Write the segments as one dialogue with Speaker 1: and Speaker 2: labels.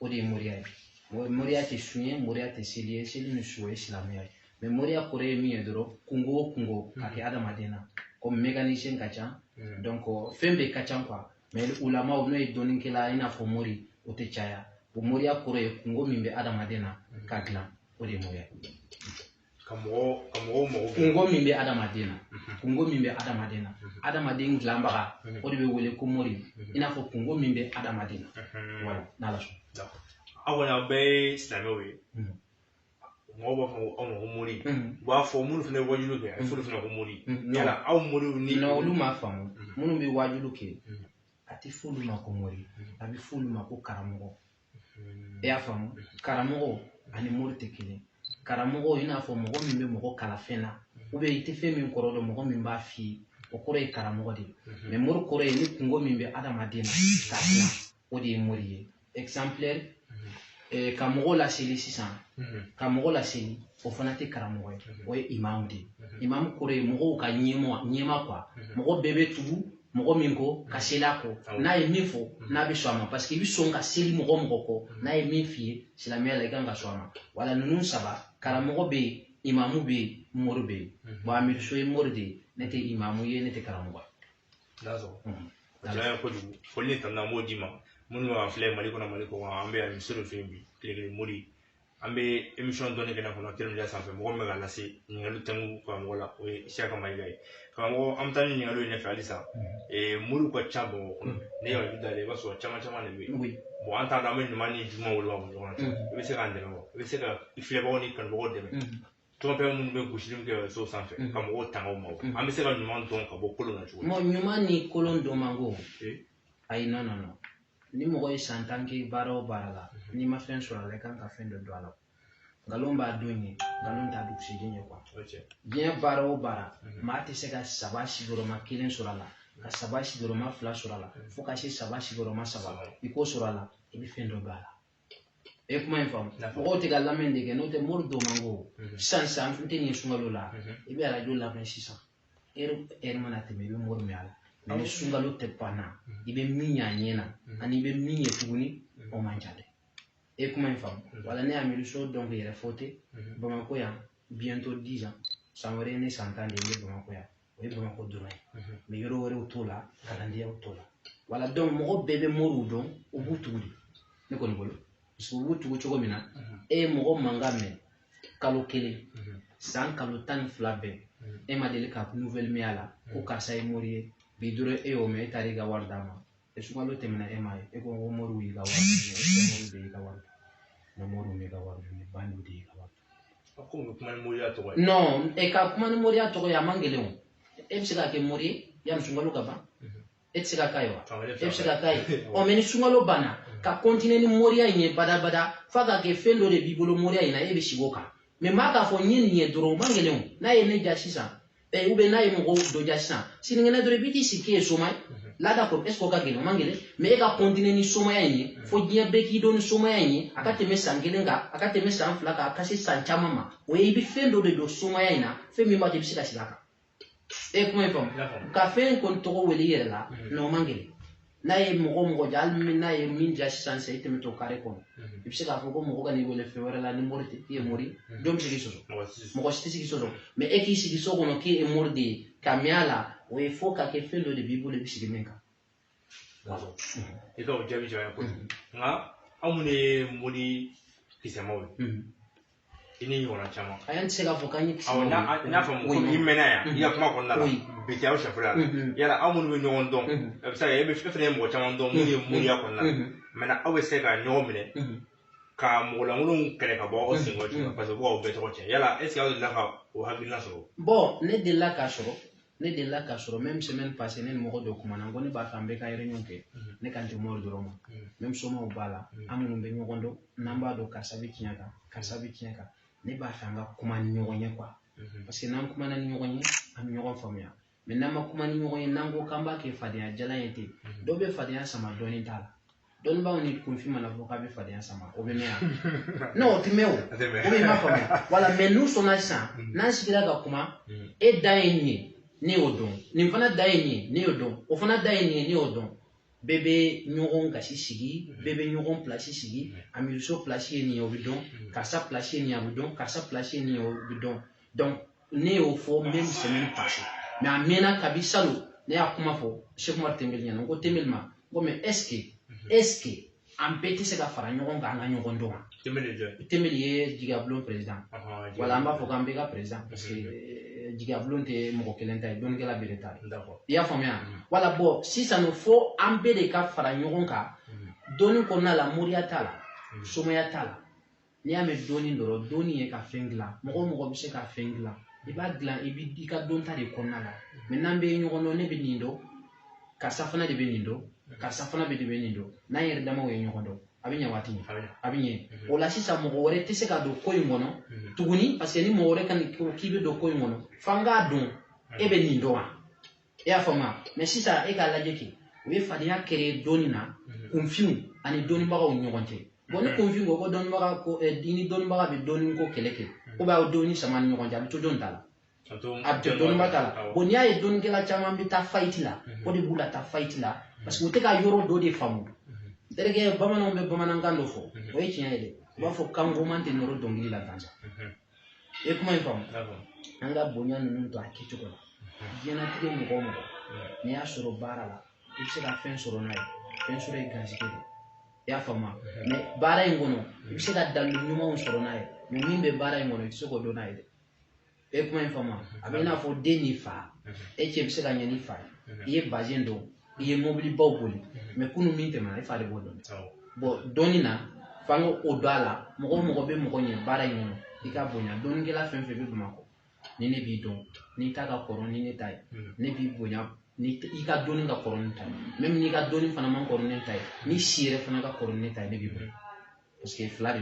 Speaker 1: o de ye moriya ye moriya tɛ sun ye moriya tɛ seli ye seli ni sun ye silamɛya ye mɛ moriya kɔrɔ ye min ye dɔrɔn kunko o kunko ka kɛ adamaden na komi mécanicien ka ca mm. donc fɛn bɛɛ ka ca quoi mais ulamaw n'o ye dɔnnikɛla i n'a fɔ mori o tɛ caya o moriya kɔrɔ ye kunko min bɛ adamaden na mm. k'a dilan o de ye moriya
Speaker 2: ka mɔgɔw ka mɔgɔw mago bɛ
Speaker 1: kunko min bɛ adamaden na kunko min bɛ adamaden na adamaden dilanbaga o de bɛ wele ko mori i n'a fɔ kunko min bɛ adamaden na wala n'ala sɔn aw kɔni aw
Speaker 2: bɛɛ ye silamɛw ye mɔgɔw b'a fɔ aw ma ko mori u b'a fɔ minnu fana ye wajuliw kɛ a bɛ f'olu fana ko mori yala aw moriw ni olu m'a faamu
Speaker 1: minnu bɛ wajuliw kɛ a tɛ f'olu ma ko mori a bɛ f'olu ma ko karamɔgɔ i y'a faamu karamɔgɔ ani mori tɛ kelen karamɔgɔ i n'a fɔ mɔgɔ min bɛ mɔgɔ kalan fɛn na ou bien i tɛ fɛn min kɔrɔ dɔn mɔgɔ min b'a f'i ye o kɔrɔ ye karamɔgɔ de ye mɛ mori kɔrɔ ye ni kunko min bɛ adamaden na k'a dilan o de ye mori ye ka mɔgɔ laseli sisan ka mɔgɔ laseli o fana tɛ karamɔgɔ ye o ye imamu de ye imamu kɔrɔ ye mɔgɔw ka ɲɛmɔ ɲɛmaa quoi mɔgɔ bɛɛ bɛ tugu mɔgɔ min kɔ ka seli a kɔ n'a ye min fɔ n'a bɛ sɔn a ma parce que i bɛ sɔn ka seli mɔgɔ mɔgɔ kɔ n'a ye min f'i ye silamɛya la i kan ka sɔn a ma wala ninnu saba karamɔgɔ bɛ yen imamu bɛ yen mori bɛ yen bon amiri so ye mori de ye ne tɛ imamu ye ne tɛ karamɔgɔ
Speaker 2: ye. Ala kojugu foli ni tanu an b'o d'i ma minnu b'an filɛ mali kɔnɔ mali kɔkan an bɛ amiri so fɛ yen bi tile kelen mori an bɛ emisɔn dɔnni kɛnɛ kɔnɔ teriya sanfɛ mɔgɔ min bɛ ka lase ɲininkali tɛmu karamɔgɔ la o ye siyaka mayiga ye karamɔgɔ an bɛ taa ni ɲininkali ɲɛfɛ halisa mori ka ca bamakɔ kɔnɔ ne yɛrɛ da la i b'a sɔrɔ caman caman de bɛ yen bon an t'a dɔn an bɛ ɲuman ni juguman woloma ɲɔgɔn cɛ i bɛ se k'an dɛmɛ wa i bɛ se ka filɛbagaw ni kanubagaw dɛmɛ tɔnfɛn minnu bɛ gosili kɛ so sanfɛ ka mɔgɔw tanga o ma an bɛ se ka ɲuman dɔn ka bɔ kolon na cogo min. ɲuman ni
Speaker 1: kolon dɔn man go. ayi non non non ni mɔgɔ ye san tan kɛ baara o baara la n'i ma fɛn sɔrɔ a la i kan ka fɛn dɔ dɔn a la nkalon b'a don ye nkalon t'a dugusiden ye quoi diɲɛ baara o baara maa tɛ se ka saba sigiyɔrɔma kelen sɔrɔ a la ka saba sigiyɔrɔma fila sɔrɔ a la fo ka se saba sigiyɔrɔma saba i k'o sɔrɔ a la i bɛ fɛn dɔ dɔn a la e kuma in faamu mɔgɔw tɛ ka lamɛn de kɛ n'o tɛ mori dɔn man go sisan sisan n tɛ nin sunkalo la i bɛ arajo lamɛn sisan ɛri ɛri mana tɛmɛ i bɛ mori mɛn a la mɛ ni sunkalo tɛmɛna i bɛ min y'a ɲɛ na ani i bɛ min ye tuguni o man ca dɛ e kuma in faamu wala ne amiri so donc yɛrɛfo tɛ bamakɔ yan bientôt dix ans san wɛrɛ ye ne san tan de ye ne bamakɔ yan o ye bamakɔ dɔrɔn ye mɛ yɔrɔ wɛrɛw t'o la kalandenyaw t'o la wala dɔnku mɔgɔ bɛɛ bɛ moriw dɔn u b'u tugu de ne kɔni bolo parce que u b'u tugu cogo min na e ye mɔgɔ mankan mɛn kalo kelen san kalo tan ni fila bɛɛ e ma deli ka nouvelle mɛn a la ko karisa ye mori ye bi dɔrɔn e y'o mɛn e taara i ka wari d'a ma e sunkalo tɛmɛna e m'a ye e ko ko moriw y'i ka wari damu moriw de y'i ka wari damu non moriw m'i ka wari damu bandiw de y'i ka wari
Speaker 2: non e ka kuma
Speaker 1: ni moriya tɔgɔ ye a man gɛlɛn o e bɛ se ka kɛ mori ye yanni sunkalo ka ban e tɛ se ka k'a ye wa e bɛ se ka k'a ye ɔ mɛ ni sunkalo banna ka kɔntine ni moriya in ye badabada f'a ka kɛ fɛn dɔ de b'i bolo moriya in na e bɛ sigi o kan mɛ maa k'a fɔ n ye nin ye dɔrɔn o man gɛlɛn o n'a ye ne ja sisan eh, u bɛ n'a ye mɔgɔ dɔ ja sisan sinikɛnɛ dɔrɔn i bɛ t'i sigi k'e ye soma ye la d'accord est ce que o ka gɛlɛn o man gɛlɛn mɛ e ka kɔntine ni somaya in ye fo diɲɛ bɛɛ k'i dɔn ni somaya in ye a ka tɛmɛ san kelen kan a ka tɛmɛ san fila kan a ka se san caman ma o ye i bɛ fɛn dɔ de dɔn somaya in na fɛn min b'a to i bɛ se ka sigi a kan e kuma in faamu ka fɛn kɔni tɔgɔ wele i yɛrɛ la non o man gɛlɛn n'a ye mɔgɔ mɔgɔ ja hali n'a ye min ja sisan sisan i tɛmɛtɔ kare kɔnɔ i bɛ se k'a fɔ ko mɔgɔ kan'i wele fɛn wɛrɛ la ni mori tɛ i ye mori ye jɔn bɛ se k'i sɔsɔ mɔgɔ si tɛ se k'i sɔsɔ mɛ e k'i sigi so kɔnɔ k'i ye mori de ye ka mɛn a la o ye fo ka kɛ fɛn dɔ de b'i bolo i bɛ sigi min
Speaker 2: kan. i ka o jaabi jɔn ye kojugu nka aw minnu ye mori kisɛmaw ye i ni ɲɔgɔnna caman ayi an tɛ se k'a fɔ k'an
Speaker 1: ye kisɛmaw ye n'a fɔ
Speaker 2: mɔgɔ i mɛnna yan i ka kuma kɔnɔna la bi tɛ aw sɛfula yala aw minnu bɛ ɲɔgɔn dɔn a bɛ se ka e bɛ fɛn fɛn ye mɔgɔ caman dɔn minnu ye moriya kɔnɔna la mɛ aw bɛ se ka ɲɔgɔn minɛ ka mɔgɔ lankolonw kɛlɛ ka bɔ aw senkɔrɔ cogo min na paseke u b'aw bɛɛ tɔgɔ cɛn yala ɛseke
Speaker 1: aw
Speaker 2: delila ka o hakilina sɔrɔ bɔn ne delila k'a sɔrɔ
Speaker 1: ne delila k'a sɔrɔ même semaine passée ne ni mɔgɔ dɔ kumana n ko ne b'a fɛ an bɛɛ ka réunion kɛ mm-hmm. ne kan tɛ mori dɔrɔn ma mm-hmm. même somaw b'a la mm-hmm. an minnu bɛ ɲɔgɔn dɔn n'an b'a dɔn karisa bɛ tiɲɛ kan karisa bɛ tiɲɛ kan ne b'a fɛ an ka kuma ni ɲɔgɔn ye quoi parce que n'an kumana ni ɲɔgɔn ye an bɛ ɲɔgɔn faamuya mais n'an ma kuma ni ɲɔgɔn ye n'an ko k'an b'a kɛ fadenya jalan ye ten dɔw bɛ fadenya sama dɔnni t'a la dɔnnibaaw ni kunfin man'a fɔ k'a bɛ fadenya sama o bɛ mɛn yan non o tɛ mɛn o o bɛ ma faamuya wala mɛ n'u sɔnna sisan mm. n'an sigira ka kuma mm. e dan ye nin ye ne y'o dɔn nin fana dan ye nin ye ne y'o dɔn o fana dan ye nin ye ne y'o dɔn bɛɛ bɛ ɲɔgɔn gasi sigi mm. bɛɛ bɛ ɲɔgɔn pilasi sigi amiso pilasi ye nin ye o bɛ dɔn karisa pilasi ye nin ye a bɛ dɔn karisa pilasi ye nin ye o bɛ dɔn ne y'o fɔ même semaine passée mɛ a mɛnna kabi salon ne y'a kuma fɔ sɛki umar tɛnbɛli ɲɛna n ko tɛnbɛli ma n ko mɛ ɛsike ɛsike an bɛɛ tɛ se ka fara ɲɔgɔn kan an ka ɲɔgɔn dɔn wa tɛnbɛli ye jigiyabulon perezidan wala an b'a fɔ k'an bɛɛ ka perezidan parce que eh, jigiyabulon tɛ mɔgɔ kelen ta ye dɔnnikɛla bɛɛ de ta ye i y'a faamuya wala bɔn sisan fo an bɛɛ de ka fara ɲɔgɔn kan dɔnni kɔnɔna la moriya t'a la somaya t'a la n'i y'a mɛn dɔnni dɔrɔn dɔnni ye ka fɛn dilan mɔgɔ o mɔgɔ bɛ se ka fɛn dilan i b'a dilan i bɛ i ka dɔnta de kɔnɔna la mais n'an bɛ ɲɔgɔn dɔn ne bɛ nin dɔn karisa fana de bɛ nin dɔn karisa fana bɛ de bɛ nin dɔn n'an yɛrɛ damaw ye ɲɔgɔn dɔn a bɛ ɲɛ waati min a bɛ ɲɛ mhm. o la sisan mɔgɔ wɛrɛ tɛ se ka don ko in kɔnɔ mhm. tuguni parce que ni mɔgɔ wɛrɛ ko k'i bɛ don ko in kɔnɔ f'an k'a dɔn e bɛ nin dɔn wa e y'a faamuya mais sisan e k'a lajɛ kɛ u ye fadenya créer dɔnni na mhm. kunfinw ani dɔnnibagaw ni ɲɔgɔn cɛ bon ni mhm. kunfin ko ko dɔnnibaga ko eh, ni dɔnnibaga bɛ dɔnni ko kɛlɛ kɛ ou bien a bɛ dɔnni sama ni ɲɔgɔn cɛ a bɛ to dɔnni t'a la a bɛ to dɔnniba t'a la bon n'i y'a ye dɔnnikɛla caman bɛ taa faillite la mhm. o de b'u la taa faillite la parce que u tɛ ka yɔrɔ dɔ de faamu terikɛ bamananw bɛ bamanankan dɔ fɔ o ye tiɲɛ ye dɛ u b'a fɔ kangoman tɛ nɔrɔ dɔnkili la gansan i ye kuma in faamu an ka bonya ninnu to a kɛcogo la diɲɛnatigɛ mɔgɔ o mɔgɔ n'i y'a sɔrɔ baara la i bɛ se ka fɛn sɔrɔ n'a ye fɛn sɔrɔ ye garisɛgɛ de i y'a faamu mais baara in kɔnɔ i bɛ se ka dalilu ɲumanw sɔrɔ n'a ye mais min bɛ baara in kɔnɔ i tɛ se k'o dɔn n'a ye dɛ e kuma in faamu a bɛ i n'a fɔ den ni fa e cɛ bɛ se ka ɲɛ n'i fa ye i ye bazɛn don i ye mɔbilibaw boli mais kunu min tɛmɛna e fa de b'o dɔn bon dɔnni na f'an ka o don a la mɔgɔ o mɔgɔ bɛ mɔgɔ ɲɛ baara in kɔnɔ i k'a bonya dɔnnikɛla fɛn fɛn bɛ bamakɔ ni ne b'i dɔn n'i ta ka kɔrɔ ni ne ta ye ne b'i bonya ni i ka dɔnni ka kɔrɔ ni n ta ye même n'i ka dɔnni fana man kɔrɔ ni ne ta ye n'i si yɛrɛ fana ka kɔrɔ ni ne ta ye ne b'i bonya parce que fila de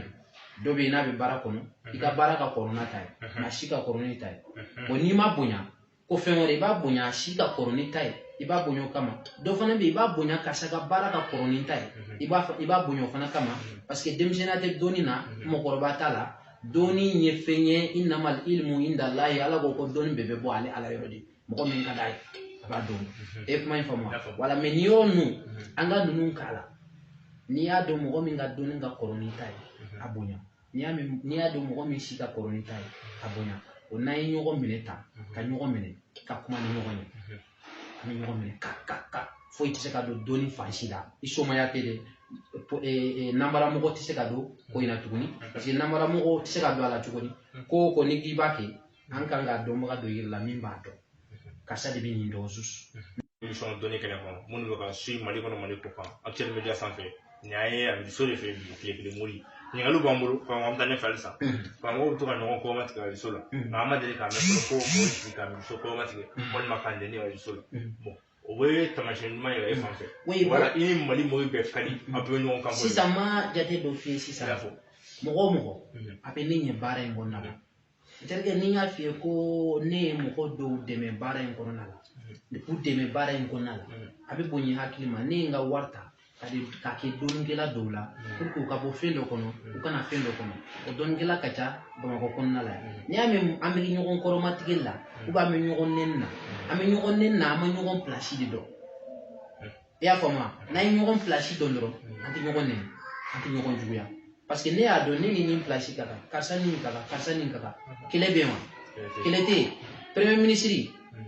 Speaker 1: don dɔ bɛ yen n'a bɛ baara kɔnɔ i ka baara ka kɔrɔ n'a ta ye nk'a si ka kɔrɔ n'i ta ye bon n'i m'a bonya ko fɛn wɛrɛ i b'a bonya a si ka kɔrɔ n'i ta ye i b'a bonya o kama dɔ fana bɛ yen i b'a bonya karisa ka baara ka kɔrɔ n'i ta ye i b'a i b'a bonya o fana kama parce que denmisɛnninya tɛ dɔnni na mɔgɔkɔrɔba t'a la dɔnni ye fɛn ye innamal ilmu indallahi ala ko ko dɔnni bɛɛ bɛ bɔ ale ala yɔrɔ de mɔgɔ min ka d'a ye a b'a dɔn e kuma in faamu voilà mais n'i y'o nu an ka ninnu k'a la n'i y'a dɔn mɔgɔ min ka dɔnni ka kɔrɔ n'i ta ye a bonya n'i y'a mɛn n'i y'a dɔn mɔgɔ min si ka kɔrɔ n'i ta ye k'a bonya o n'an ye ɲɔgɔn minɛ ta ka ɲɔgɔn minɛ ka kuma ni ɲɔgɔn ye an bɛ ɲɔgɔn minɛ ka ka ka foyi tɛ se ka don dɔnni fan si la i somaya tɛ dɛ nanbara mɔgɔ tɛ se ka don ko in na tuguni parce que nanbara mɔgɔ tɛ se ka don a la tuguni ko o ko n'i k'i b'a kɛ an kan ka dɔnbaga dɔ yir'i la min b'a dɔn karisa de bɛ nin dɔn susu sɔn dɔnni
Speaker 2: kɛnɛ kɔnɔ minnu bɛ k'an suivi mali kɔnɔ mali kɔkan actuel media sanfɛ nin y'an ye a muso de fɛ yen bi tile kelen mori ɲininkaliw b'an bolo k'an an bɛ taa ɲɛfɛ halisa karamɔgɔw bɛ to ka ɲɔgɔn kɔma tigɛ arajo la nka an ma deli k'a mɛn fɔlɔ ko o sigi ka muso kɔma tigɛ walima k'a nɛni arajo la bon o bɛ taamasiyɛn ɲuman yira e fan fɛ wala i ni mali mɔgɔw bɛɛ ka di a bɛ ɲɔgɔn kan sisan ma jate dɔ
Speaker 1: f'i ye sisan mɔgɔ o mɔgɔ a bɛ ne ɲɛ baara in kɔnɔna na terikɛ ni n y'a f'i ye ko ne ye mɔgɔ dɔw dɛmɛ baara in kɔnɔna la u dɛmɛ baara in kɔnɔna la a bɛ bonya hakili ma ne ye n ka wari ta k'a di k'a kɛ dɔnnikɛla dɔw la pour que u ka bɔ fɛn dɔ kɔnɔ u ka na fɛn dɔ kɔnɔ o dɔnnikɛla ka ca bamakɔ kɔnɔna la n'i y'a mɛn an bɛ ɲɔgɔn kɔrɔmatigɛ la ou bien an bɛ ɲɔgɔn nɛni na an bɛ ɲɔgɔn nɛni na an ma ɲɔgɔn pilasi de dɔn i y'a faamu wa n'an ye ɲɔgɔn pilasi dɔn dɔrɔn an tɛ ɲɔgɔn nɛni an tɛ ɲɔgɔn juguya parce que ne y'a dɔn ne ni nin pilasi ka kan karisa ni nin ka kan karisa ni nin ka kan kɛlɛ bɛ yen wa kɛlɛ tɛ yen premier ministre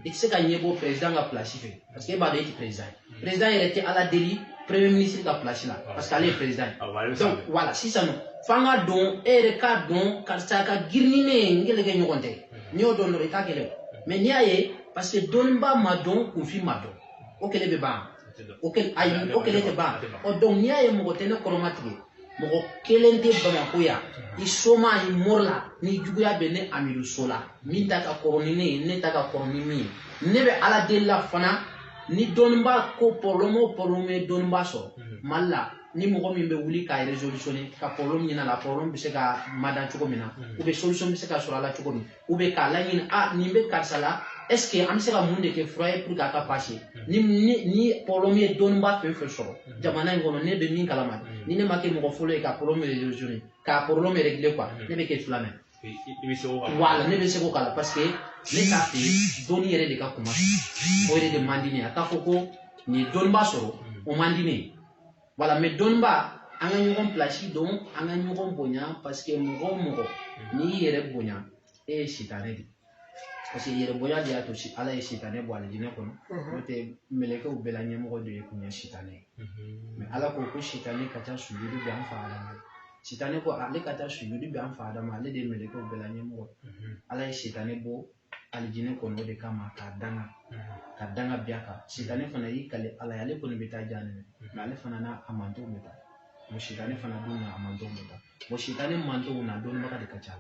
Speaker 1: i tɛ se ka ɲɛ bɔ président ka pilasi fɛ parce que e b'a dɔn e tɛ président ye président yɛrɛ tɛ ala deli premier ministre ka pilasi la parce que ale ye président ye Awɔ, ale bɛ donc sanfɛ. voilà sisan nɔ f'an k'a dɔn e yɛrɛ k'a dɔn karisa ka girin ni ne ye n kɛlɛkɛɲɔgɔn tɛ n'i y'o dɔn dɔrɔn i t'a kɛlɛ o mais n'i y'a ye parce que dɔnniba ma dɔn kunfin ma dɔn o kɛlɛ bɛ ban o kɛlɛ ayi o kɛlɛ tɛ ban ɔ donc n'i y'a ye mɔgɔ tɛ ne kɔrɔmatigɛ mɔgɔ kelen tɛ bamakɔ yan i soma i mori la ni juguya bɛ ne amidu so la min ta ka kɔrɔ ni ne ye ne ta ka kɔrɔ ni min ye ne bɛ ala deli la fana ni dɔnnibaa ko problème o problème ye dɔnnibaa sɔrɔ mali la ni mɔgɔ min bɛ wuli k'a résolutionner ka problème ɲini a la problème bɛ se ka mada cogo min na ou bien solution bɛ se ka sɔrɔ a la cogo min ou bien k'a laɲini a ah, nin bɛ karisa la est-ce que an bɛ se ka mun de kɛ fura ye pour que a ka passer hmm. ni ni ni problème ye dɔnnibaa fɛn fɛn sɔrɔ hmm. jamana in kɔnɔ ne bɛ min kalama hmm. ni ne ma kɛ mɔgɔ fɔlɔ ye ka problème résolutionner k'a problème régler quoi ne bɛ kɛ filanan ye i bɛ se k'o k'a la voilà ne bɛ se k'o k'a la parce que ne t'a fɛ dɔnni yɛrɛ de ka kuma o yɛrɛ de man di ne ye a k'a fɔ ko nin ye dɔnnibaa sɔrɔ o man di ne ye voilà mais dɔnniba an ka ɲɔgɔn pilasi dɔn an ka ɲɔgɔn bonya parce que mɔgɔ o mɔgɔ n'i y'i yɛrɛ bonya e ye sitanɛ de parce que yɛrɛ bonya de y'a to ala ye sitanɛ bɔ alijinɛ kɔnɔ n'o tɛ mɛlɛkɛw bɛɛ la ɲɛmɔgɔ de ye kun ye sitanɛ ye mais ala ko ko sitanɛ ka taa sujudu kɛ an fa adama sitanɛ ko ale ka taa sujudu kɛ an fa adama ale de ye mɛlɛkɛw bɛɛ la ɲɛmɔgɔ ala ye sitanɛ bɔ alijinɛ kɔnɔ o de kama k'a danga ka danga bin a kan sitanɛ fana y'i kale ala ye ale kɔni bɛ taa janɛmɛ mais ale fana n'a a mantonw bɛ taa bon sitanɛ fana dun n'a a mantonw bɛ taa bon sitanɛ mantonw na dɔnnibaga de ka ca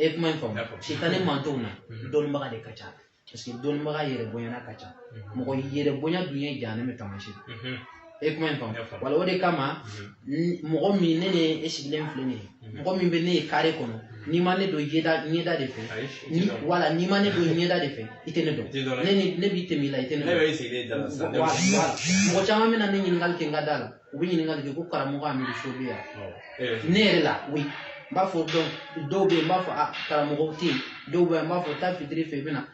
Speaker 1: e kuma in faamu sitanɛ mantonw na dɔnnibaga de ka ca parce que dɔnnibaga yɛrɛ bonyana ka ca mɔgɔ yɛrɛ bonya dun ye janɛmɛ taamasiyɛn e kuma in faamu voilà o de kama mhm. mɔgɔ min ne ni e sigilen filɛ nin ye mhm. mɔgɔ min bɛ ne ye carré kɔnɔ mhm. n'i ma ne dɔn ɲɛda ɲɛda de fɛ voilà n'i ma ne dɔn ɲɛda de fɛ i tɛ ne dɔn ne ni ne bɛ tɛmɛ i la i tɛ ne dɔn mɔgɔ caman bɛ na ne ɲininkali kɛ n ka da la u bɛ ɲininkali kɛ ko karamɔgɔ amidu so bɛ yan eh. ne yɛrɛ la oui n b'a fɔ dɔw bɛ yen n b'a fɔ a ah, karamɔgɔ tɛ yen dɔw bɛ yen n b'a fɔ taa fitiri fɛ i bɛ na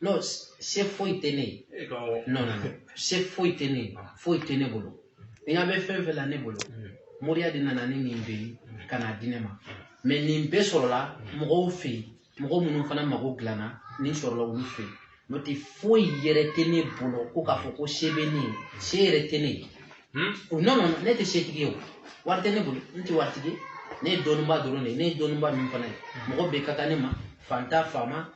Speaker 1: non se foyi tɛ ne ye eh, non non se foyi tɛ ne ye ah. foyi tɛ ne bolo n ɲa bɛ fɛn fɛn la ne bolo mm. moriya de nana ni nin bɛɛ ye mm. ka n'a di ne ma mais nin bɛɛ sɔrɔla mm. mɔgɔw fɛ yen mɔgɔ minnu fana mago dilanna nin sɔrɔla olu fɛ yen n'o tɛ foyi yɛrɛ tɛ ne bolo ko k'a fɔ ko se bɛ ne ye se yɛrɛ tɛ ne ye hmm? o non non ne tɛ setigi ye o wari tɛ ne bolo n tɛ waritigi ye ne ye dɔnnibaa dɔrɔn de ye ne ye dɔnnibaa min fana ye mɔgɔ bɛɛ ka kan ne ma fantan faama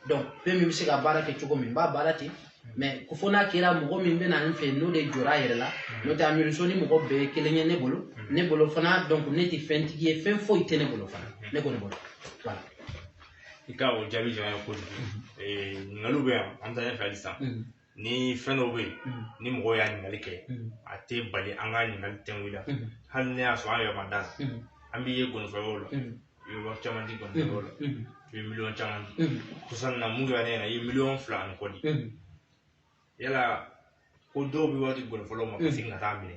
Speaker 1: donc fɛn min bɛ se ka baara kɛ cogo min n b'a baara ten mais ko fo n'a kɛra mɔgɔ min bɛ na n fɛ n'o de jɔra a yɛrɛ la n'o tɛ Amidu So ni mɔgɔ bɛɛ ye kelen ye ne bolo ne bolo fana donc ne tɛ fɛntigi ye fɛn foyi tɛ ne bolo fana ne kɔni bolo voilà. i
Speaker 2: ka o jaabi jara n ye kojugu ɲininkaliw bɛ yan an bɛ taa ɲɛfɛ halisa ni fɛn dɔw bɛ yen mm. ni mɔgɔw y'a ɲininkali kɛ mm. a tɛ bali an ka ɲininkali tɛngu la mm. hali n'a y'a sɔrɔ an yɛrɛ ma da a la an b'i ye nkɔnifɔyɔrɔ la i bɛ wari caman di nkɔnifɔyɔrɔ la i bɛ miliyɔn caman di kɔsa in na mun kɛra ne ɲɛna i ye miliyɔn fila ani kɔ di yala ko dɔw bɛ wari di nkɔnifɔlaw ma ka segin ka taa minɛ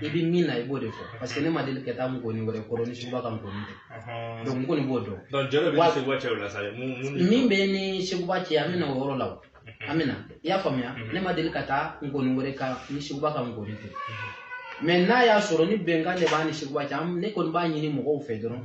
Speaker 1: i bɛ min na i b'o de fɔ parce que ne ma deli ka taa nkɔni wɛrɛ kɔrɔ ni Seguba ka nkɔni tɛ donc n kɔni b'o dɔn min bɛ n ni Seguba cɛ an bɛ na o yɔrɔ la o an bɛna i y'a faamuya ne ma deli ka taa nkɔni wɛrɛ kan ni Seguba ka nkɔni tɛ mais n'a y'a sɔrɔ ni bɛnkan de b'a ni Seguba cɛ ne kɔni b'a ɲini mɔgɔw fɛ dɔrɔn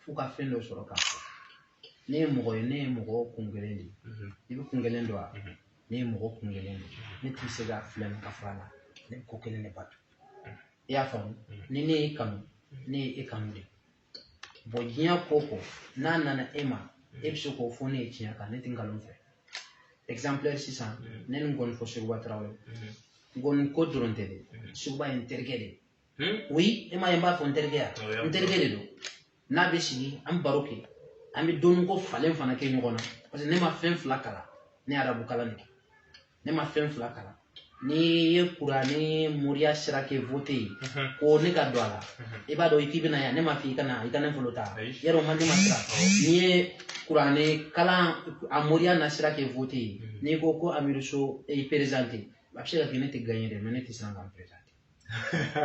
Speaker 1: f'u ka fɛn dɔ sɔrɔ k'a fɔ ne ye mɔgɔ ye ne ye mɔgɔ kun kelen de ye mhm. i bɛ kun kelen dɔn wa mhm. ne ye mɔgɔ kun kelen de ye ne tɛ se ka filɛ nin ka fara la ne bɛ ko kelen de bato mhm. i y'a faamu ni ne y'e kanu ne ye e kanu de bon diɲɛ ko o ko n'a nana e ma e bɛ se k'o fɔ ne ye tiɲɛ kan ne tɛ nkalon fɛ exemplaire sisan ne ni nkɔnifɔ Seguba Tarawele nkɔni ko dɔrɔn tɛ dɛ Seguba ye n terikɛ de ye Hmm? oui e m'a ye n b'a fɔ n terikɛya n terikɛ de don n'a bɛ sigi an baro kɛ an bɛ dɔnni ko falen fana kɛ ɲɔgɔn na parce que ne ma fɛn fila kalan ne ye arabu kalan de kɛ ne ma fɛn fila kalan n'i ye kuranɛ ni moriya sira kɛ vote ye mhm. ko ne ka don a la mhm. i b'a dɔn i k'i bɛna yan ne ma f'i kana i ka ne bolo ta yɛrɛ o man ne ma siran n'i ye kuranɛ kalan a moriya na sira kɛ vote ye mhm. n'i ko ko Amidu So i présenté a bɛ se ka kɛ ne tɛ gagné dɛ mais ne tɛ siran ka n présenter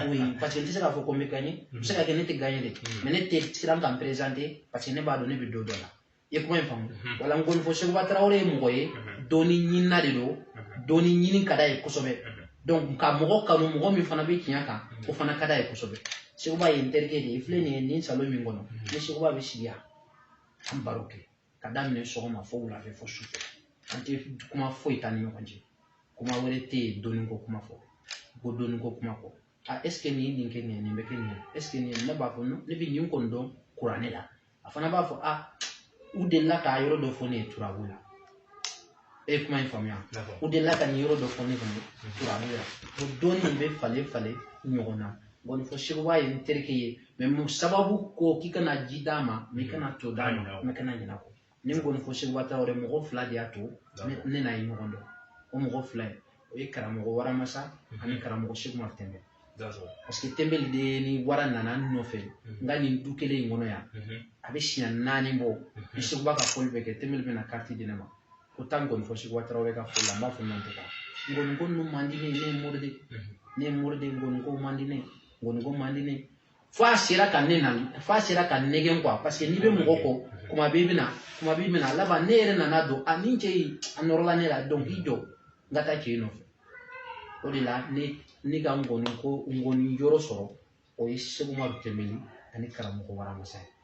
Speaker 1: oui parce que n tɛ se k'a fɔ ko n bɛ gagné a bɛ se ka kɛ ne tɛ gagné dɛ mais ne tɛ siran ka n présenter parce que ne b'a dɔn ne bɛ dɔ dɔn a la i ye kuma in faamu wala nkɔnifɔ Seguba Tarawele ye mɔgɔ ye dɔnni ɲinina de don dɔnni ɲini ka d'a ye kosɛbɛ donc ka mɔgɔ kanu mɔgɔ min fana bɛ tiɲɛ kan o fana ka d'a ye kosɛbɛ Seguba ye n terikɛ de ye i filɛ nin ye nin salon min kɔnɔ ne ni Seguba bɛ sigi yan an baro kɛ ka daminɛ sɔgɔma fo wulafɛ fo sufɛ an tɛ kuma foyi t'an ni ɲɔgɔn cɛ kuma wɛrɛ tɛ yen dɔnni ko kuma fɔ ko dɔnni ko kuma fɔ a est-ce que nin ye nin kɛ nin ye nin bɛ kɛ nin ye est-ce que nin ye ne b'a fɔ ne bɛ nin kɔni dɔn kuranɛ la a fana b'a fɔ a u delila k'a yɔrɔ dɔ fɔ ne ye turabu la e kuma in faamuya u delila ka nin yɔrɔ dɔ fɔ ne kun kuranɛ la ko don nin bɛ falen falen ɲɔgɔn na nkɔnifɔ seguba ye n terikɛ ye mɛ mun sababu ko k'i kana ji d'a ma mɛ kana to d'a ma mɛ kana ɲinɛ kɔ ni nkɔnifɔ seguba tarawele mɔgɔ fila de y'a to ne n'a ye ɲɔgɔn dɔn o mɔgɔ fila ye o ye karamɔgɔ waramasa ani karamɔgɔ sekumadu tɛnbɛli parce que tɛnbɛli de ni wara nana n nɔfɛ n ka nin du kelen in kɔnɔ yan a bɛ siɲɛ naani bɔ ni seguba ka fɔli bɛ kɛ tɛnbɛli bɛna kariti di ne ma ko taa nkɔni fɔ seguba tarawele ka fɔli la n b'a fɔ non n tɛ taa nkɔni ko ninnu man di ne ye ne ye mori de ne ye mori de nkɔni ko man di ne ye nkɔni ko man di ne ye fo a sera ka ne nɛgɛn kuwa parce que n'i bɛ mɔgɔ kɔ kuma bɛɛ i bɛna laban ne yɛrɛ nana dɔn a nin cɛ in a nɔrɔla ne la donc i jɔ n ka taa cɛ in nɔfɛ o de la ne ka nkɔni yɔrɔ sɔrɔ o ye sekumadu tɛnbɛli ani karamɔgɔ waramasa ye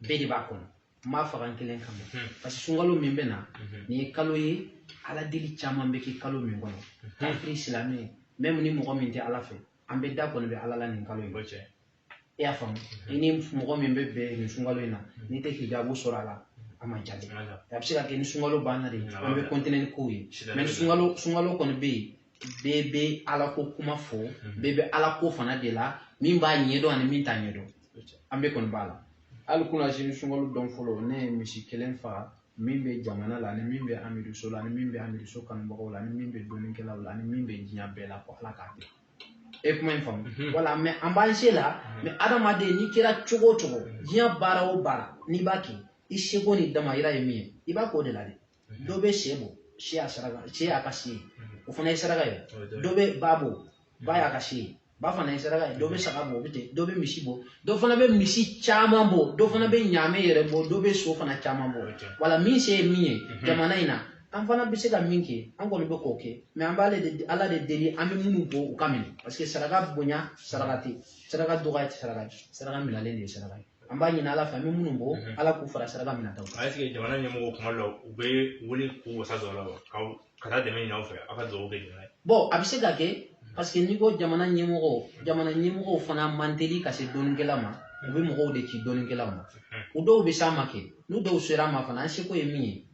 Speaker 1: bɛɛ de b'a kɔnɔ n m'a faga n kelen kama hmm. parce que sunkalo min bɛ na hmm. nin ye kalo ye ala deli caman bɛ kɛ kalo min kɔnɔ hmm. kafiri silamɛ mɛmu ni mɔgɔ min tɛ ala fɛ an bɛɛ da kɔni bɛ ala la nin kalo in cɛ i y'a faamu i ni mɔgɔ min bɛ bɛn nin sunkalo in na n'i tɛ hijabu sɔrɔ a la a ma jaabi a bɛ se ka kɛ ni sunkalo banna de an bɛ continuer ni kow ye mɛ ni sunkalo kɔni bɛ yen bɛɛ bɛ ala ko kuma fɔ bɛɛ bɛ ala ko fana de la min b'a ɲɛdɔn ani min t'a ɲɛdɔn an bɛɛ kɔni b'a la hali kunasini sunkalo don fɔlɔ ne ye misi kelen faga min bɛ jamana la ani min bɛ amiduso la ani min bɛ amiduso kanubagaw la ani min bɛ dɔnnikɛlaw la ani min bɛ diɲɛ bɛɛ la ko ala k'a kɛ e kuma in faamu mhm. wala mɛ an b'an se la mhm. mɛ adamaden n'i kɛra cogo o cogo diɲɛ baara o baara n'i b'a kɛ i seko ni damayira ye min ye i b'a k'o de la dɛ dɔ bɛ sɛ bɔ sɛ y'a ka se ye o fana ye saraka ye dɔ bɛ ba bɔ ba y'a ka se ye ba fana ye saraka ye dɔ bɛ saga bɔ o bɛ ten dɔ bɛ misi bɔ dɔ fana bɛ misi caman bɔ dɔ fana bɛ ɲaamɛ yɛrɛ bɔ dɔ bɛ so fana caman bɔ wala min se ye min ye jamana in na an fana bɛ se ka min kɛ an kɔni bɛ k'o kɛ mɛ an b'ale de ala de deli an bɛ minnu bɔ u ka minɛ parce que saraka bonya saraka tɛ saraka dɔgɔya tɛ saraka saraka minɛlen de ye saraka ye an b'a ɲini ala fɛ an bɛ minnu bɔ mhm. ala k'u fara
Speaker 2: saraka
Speaker 1: minɛtaw
Speaker 2: kan est-ce
Speaker 1: que
Speaker 2: jamana
Speaker 1: ɲɛmɔgɔw
Speaker 2: kuma dɔ
Speaker 1: u
Speaker 2: bɛ wuli k'u wasa
Speaker 1: don
Speaker 2: a la wa ka taa dɛmɛ ɲini aw fɛ aw ka dugawu kɛ jamana ye bɔn a bɛ se ka kɛ
Speaker 1: mhm. parce que n'i ko jamana ɲɛmɔgɔw mhm. jamana ɲɛmɔgɔw fana man teli ka se dɔnnikɛla ma u bɛ mɔgɔw de ci dɔnnikɛla ma u dɔw bɛ s'an ma kɛ n'u dɔw sera an ma fana an seko ye min ye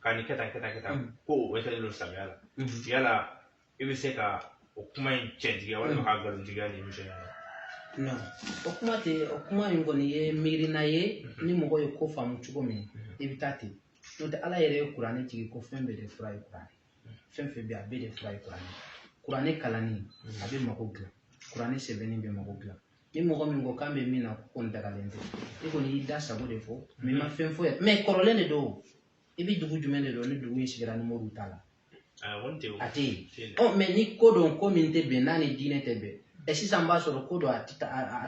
Speaker 2: ka nin kɛ tan kɛ tan kɛ tan mm. ko o wɛsɛlen don silamɛya la mm-hmm. yala i bɛ se ka o kuma in cɛntigiya walima mm. k'a nkalontigiya nin émission
Speaker 1: in na non o kuma in kɔni ye miirina ye mm-hmm. ni mɔgɔ ye ko faamu cogo min mm-hmm. i bɛ taa ten n'o tɛ ala yɛrɛ ye kuranɛ jigin ko fɛn bɛɛ de fura ye kuranɛ fɛn fɛn bɛ yen a bɛɛ de fura ye kuranɛ kuranɛ kalanni a bɛ mago dilan kuranɛ sɛbɛnni bɛ mago dilan ni mɔgɔ min ko k'an bɛ min na k'o kɔni dagalen tɛ i kɔni y'i da sago de fɔ mais i ma fɛn fɔ mais kɔrɔlen de don i bɛ dugu jumɛn de dɔn ni dugu in sigira ni moriw t'a la a tɛ yen ɔ mais ni ko don ko min tɛ bɛn n'a ni diinɛ tɛ bɛn ɛ sisan b'a sɔrɔ ko don a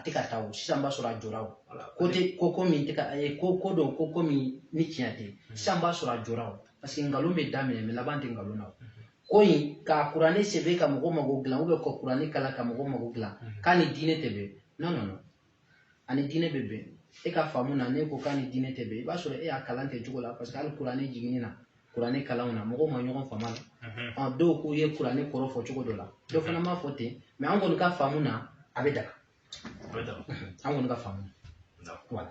Speaker 1: tɛ ka taa o sisan b'a sɔrɔ a jɔra o ko tɛ ko ko min tɛ ka ko ko don ko ko min ni tiɲɛ tɛ sisan b'a sɔrɔ a jɔra o parce que nkalon bɛ daminɛ mais laban tɛ nkalon na ko in ka kuranɛ sɛbɛn ka mɔgɔ mago dilan ou bien ka kuranɛ kalan ka mɔgɔ mago dilan k'a ni diinɛ tɛ bɛn non non non a ni diinɛ bɛ bɛn e ka faamu na ne ko k'a ni diinɛ tɛ bɛn i b'a sɔrɔ e y'a kalan kɛ cogo la parce que hali kuranɛ jiginni na kuranɛ kalanw na mɔgɔw ma ɲɔgɔn faamu a la dɔw k'u ye kuranɛ kɔrɔ fɔ cogo dɔ la dɔ fana m'a fɔ ten mais an kɔni ka faamu na a bɛ daga an kɔni ka faamu na voilà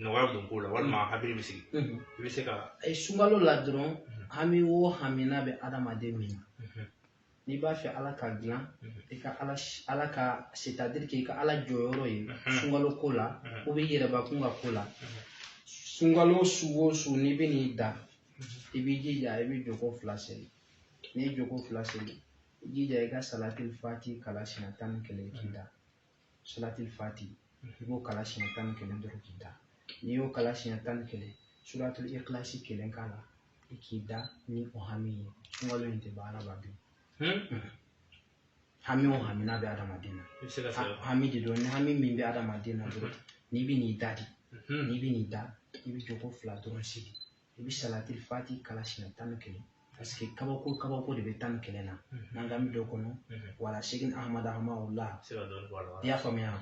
Speaker 2: nɔgɔya bɛ don ko la walima mm. hakili bɛ sigi mm-hmm. i bɛ se ka eh, sunkalo la
Speaker 1: dɔrɔn mm-hmm. hami o hami n'a bɛ adamaden min na mm-hmm. n'i b'a fɛ ala k'a dilan i ka ala ala ka c'est-à-dire k'i ka ala jɔyɔrɔ ye sunkalo ko la ou bien i yɛrɛbakun ka ko la sunkalo su o su n'i bɛ n'i da i b'i jija i bɛ jɔko fila seli n'i ye jɔko fila seli i jija i ka salatil fati kalan siɲɛ tan ni kelen k'i da salatil fati i b'o kalan siɲɛ tan ni kelen dɔrɔn k'i da n'i y'o kalan siɲɛ tan ni kelen suratul ikilasi kelen k'a la i k'i da ni o hami ye sunkalo in tɛ ban adamaden hami o hami n'a bɛ adamaden na hami de don ni hami min bɛ adamaden na dɔrɔn n'i bɛ n'i da de n'i bɛ n'i da i bɛ jɔko fila dɔrɔn seli i bɛ salatil fati kalan siɲɛ tan ni kelen parce que kabako kabako de bɛ tan ni kelen na n'an ka bɛ dɔ kɔnɔ wala sekina ahamada hamawula i y'a faamuya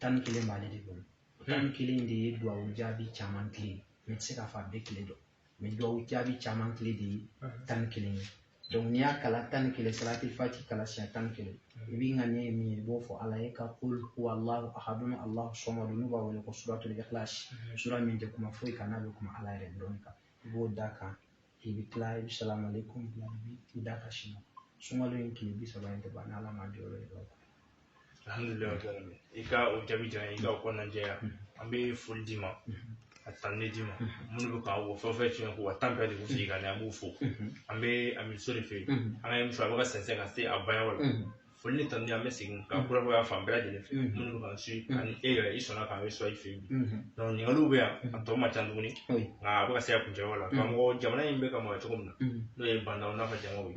Speaker 1: tan ni kelen b'ale de bolo tan ni kelen de ye duwawu jaabi caman kile mais n tɛ se k'a fɔ a bɛɛ kile don mais duwawu jaabi caman kile de ye tan ni kelen ye donc n'i y'a kalan tan ni kelen salatil fati kalan siɲɛ tan ni kelen i b'i ŋaniya ye min ye i b'o fɔ ala ye ka kul huwa allahu ahadun allahu samadu n'u b'a wele ko suratul ikhlas sura min tɛ kuma foyi kan n'a bɛ kuma ala yɛrɛ dɔrɔn kan i b'o da kan i bɛ tila i bɛ salamu aleykum bila i b'i da ka sini sunkalo in tile bi saba in tɛ ban n'ala ma jɔyɔrɔ ye
Speaker 2: i ka o jaabi diyara i ka o kɔnɔna jɛya an bɛ foli d'i ma a tanuni d'i ma minnu bɛ k'an wɔ fɛn o fɛn tiɲɛ ko wa tan bɛɛ de bɛ sigi ka na an b'u fo an bɛ amiso de fɛ an ka émission a bɛ ka sɛnsɛn ka se a banyɔrɔ la foli ni tanuni an bɛ segin ka kurakuraya fan bɛɛ lajɛlen fɛ minnu bɛ k'an suivre ani e yɛrɛ i sɔnna k'an recevoir i fɛ yen ɲininkaliw bɛ yan a tɔ man ca tuguni nka a bɛ ka se a kuncɛyɔrɔ la karamɔgɔ jamana in bɛ ka mara cogo min na n'o ye ba ndaw n'a ka jamaw ye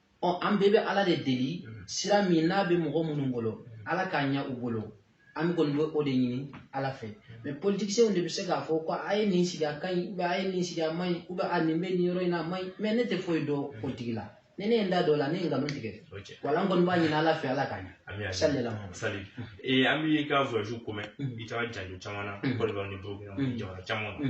Speaker 1: ɔ an bɛɛ bɛ ala de deli mm. sira min n'a bɛ mɔgɔ minnu bolo mm. ala k'a ɲɛ u bolo an kɔni bɛ o de ɲini ala fɛ mais politiciens de bɛ se k'a fɔ ko a ye nin sigi a ka ɲi ou bien a ye nin sigi a man ɲi ou bien a nin bɛ nin yɔrɔ in na a man ɲi mais ne tɛ foyi dɔn politique la ni ne ye n da don a la ne ye nkalon tigɛ wala n kɔni b'a ɲini ala fɛ ala k'a ɲɛ salila sali
Speaker 2: an b'i ka voyage ko mɛn i taara jamana caman na Côte d'Ivoire ni burukina jamana caman na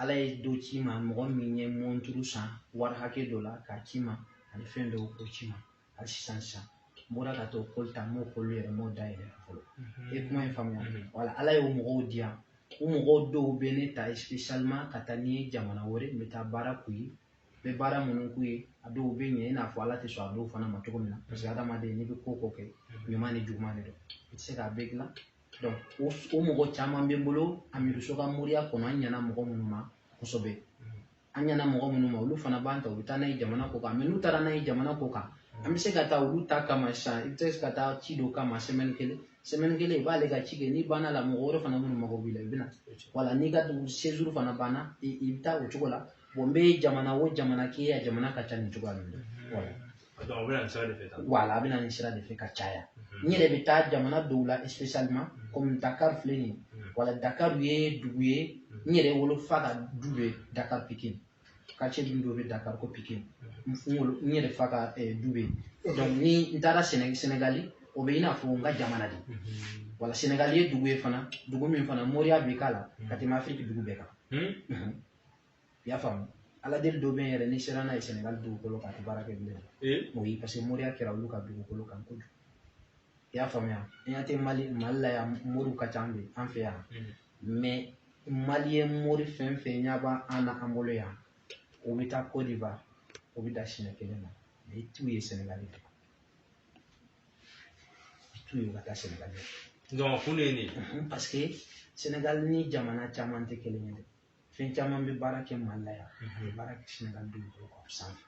Speaker 1: ala ye dɔ ci n ma mɔgɔ min ye mɔnturu san wari hakɛ dɔ la k'a ci n ma ani fɛn dɔw k'o ci n ma hali sisan sisan n bɔra ka t'o colis ta n m'o colis yɛrɛ m'o dayɛlɛ fɔlɔ i ye kuma in faamuya wala ala y'o mɔgɔw di yan o mɔgɔw dɔw bɛ ne ta spécialement ka taa ni n ye jamana wɛrɛ n bɛ taa baara k'u ye n bɛ baara minnu k'u ye a dɔw bɛ ɲɛ i n'a fɔ ala tɛ sɔn a dɔw fana ma cogo min na parce que adamaden n'i bɛ ko o ko kɛ ɲuman ni juguman de don i tɛ se k'a bɛɛ dilan o o mɔgɔ caman bɛ n bolo amiduso ka moriya kɔnɔ an ɲɛna mɔgɔ minnu ma kosɛbɛ an ɲɛna mɔgɔ minnu ma olu fana b'an ta u bɛ taa n'an ye jamana kɔ kan mais n'u taara n'an ye jamana kɔ kan an bɛ se ka taa olu ta kama sisan i bɛ se ka taa ci dɔ kama semaine kelen semaine kelen i b'ale ka ci kɛ n'i banna la mɔgɔ wɛrɛ fana minnu mago b'i la i bɛ na wala n'i ka dugu séjour fana banna i bɛ taa o cogo la n bɛ jamana o jamana k'i ye a jamana ka ca nin cogoya ninnu na wala a bɛ na nin sira de fɛ tan wala a bɛ na nin sira de fɛ ka caya n yɛrɛ bɛ taa jamana dɔw la spécialement comme Dakar filɛ nin ye wala Dakar ye dugu ye n yɛrɛ wolofa ka du bɛ Dakar Pikine quartier du dɔ bɛ Dakar ko Pikine n wolo n yɛrɛ fa ka du bɛ yen donc ni n taara Séné Sénégali o bɛ i n'a fɔ n ka jamana de wala Sénégali ye dugu ye fana dugu min fana moriya bɛ k'a la ka tɛmɛ Afrique dugu bɛɛ kan. I y'a faamu ala deli dɔ bɛ yen yɛrɛ n'i sera n'a ye sɛnɛgali dugukolo kan a tɛ baara kɛ bilen o ye parce que moriya kɛra olu ka dugukolo kan kojugu i y'a faamuya an y'a tɛ mali mali la yan moriw ka ca an fɛ an fɛ yan mais malien mori fɛn o fɛn ɲɛ b'an an na an bolo yan o bɛ taa Côte d'Ivoire o bɛ da siɲɛ kelen na mais i t'u ye sɛnɛgali dɛ i t'u ye ka taa sɛnɛgali dɛ donc kun de ye nin
Speaker 2: parce que
Speaker 1: sɛnɛgali ni jamana caman tɛ kelen ye dɛ fɛn caman bɛ baara kɛ mali la yan a tɛ baara kɛ sɛnɛgali dugukolo kan sanfɛ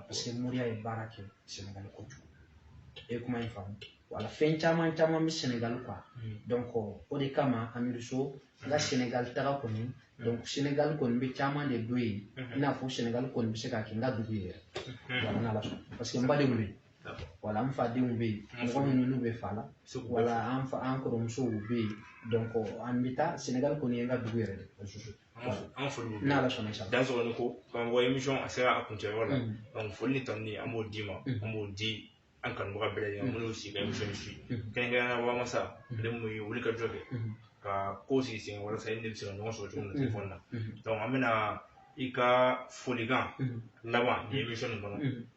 Speaker 1: parce que moriya ye baara kɛ sɛnɛgali kojugu i ye kuma in faamu wala fɛn caman caman bɛ sɛnɛgali kan donc o de kama amiriso n ka sɛnɛgali taga kɔni donc sɛnɛgali kɔni n bɛ caman de dɔn yen i n'a fɔ sɛnɛgali kɔni bɛ se ka kɛ n ka dugu ye yɛrɛ wala n'ala sɔnna parce que n badenw bɛ yen wala an fadenw bɛ yen mɔgɔ minnu n'u bɛ fa la wala an fa an kɔrɔmusow bɛ yen an bɛ taa Senegali kɔni ye n ka dugu yɛrɛ de an foli
Speaker 2: b'u ye n'Ala sɔnna i sago Dansokoni
Speaker 1: ko k'an bɔ
Speaker 2: émission a sera a kuncɛ yɔrɔ la foli ni tanuni an b'o d'i ma an b'o di an kanubaga bɛɛ lajɛlen ma minnu sigilen bɛ émission in suivre kɛrɛnkɛrɛnnenya la Wamasa ale min ye wulikajɔ kɛ ka ko sigi sen kan walasa i ni ne bɛ se ka ɲɔgɔn sɔrɔ cogo min na téléphone na an bɛna i ka folikan laban mɛn émission nin kɔnɔ.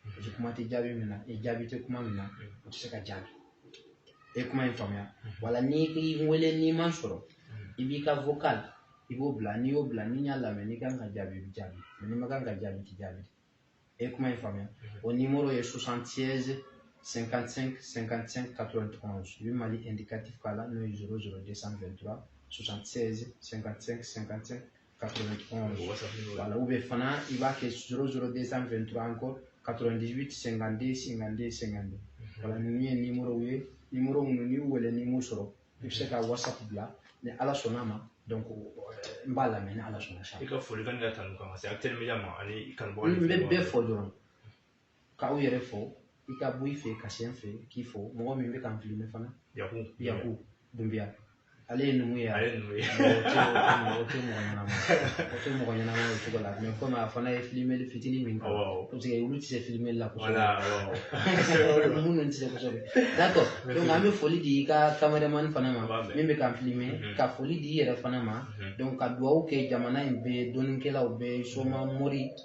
Speaker 1: Paseke kuma tɛ jaabi min na, ni jaabi tɛ kuma min na, o tɛ se ka jaabi. I ye kuma in faamuya? Wala n'i ko i bɛ n wele n'i ma n sɔrɔ, i b'i ka vocal i b'o bila, n'i y'o bila ni n y'a lamɛn n'i ka kan ka jaabi i bɛ jaabi, n'i ma kan ka jaabi i tɛ jaabi. I ye kuma in faamuya? O nimoro ye 76 55 55 91 i bɛ Mali indicatif k'a la n'o ye 00 223 76 55 55 wala u bɛ fana i b'a kɛ zoro zoro de san fɛn tura an kɔ katɔrɔndi sɛgɛnde sɛgɛnde sɛgɛnde wala ninnu ye nimoro ye nimoro minnu n'i wele n'i m'u sɔrɔ i bɛ se ka wasa bila ni ala sɔnna ma donc n b'a lamɛn ni ala sɔnna sa i ka foli kan ka tanu
Speaker 2: kan ka se a teliya ma ani kanubɔ n bɛ bɛɛ fɔ dɔrɔn
Speaker 1: k'aw yɛrɛ fo i ka bɔ i fɛ ka se n fɛ k'i fo mɔgɔ min bɛ k'an filime fana yaku yaku dunbiya ale ye numu ye ale ye numu
Speaker 2: ye o tɛ
Speaker 1: mɔgɔ ɲɛnama o tɛ mɔgɔ ɲɛnama o cogo la mɛ komi a fana ye filimeli fitinin min kɛ parce que olu tɛ se filimeli la kosɛbɛ minnu tɛ se kosɛbɛ d'accord donc an bɛ foli di i ka kameremani fana ma min bɛ k'an filime mhm. ka foli di i yɛrɛ fana ma mhm. donc ka dugawu kɛ jamana in bɛɛ dɔnnikɛlaw bɛɛ soma mori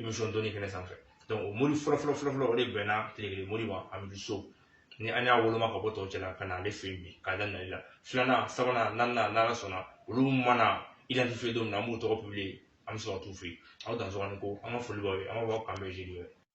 Speaker 2: émission dɔnni kɛnɛ sanfɛ donc o mori fɔlɔ fɔlɔ fɔlɔ fɔlɔ o de bɛnna tilekelen mori ma an bi so ni an y'a woloma ka bɔ tɔw cɛla ka na ale fɛ yen bi k'a da nali la filanan sabanan naaninan n'ala sɔnna olu mana identifier don min na an b'u tɔgɔ publier an bɛ sɔrɔ ka t'u fɛ yen aw dansɔgɔ aw ni ko an ka foli b'aw ye an b'a fɔ aw k'an bɛn jeudi wɛrɛ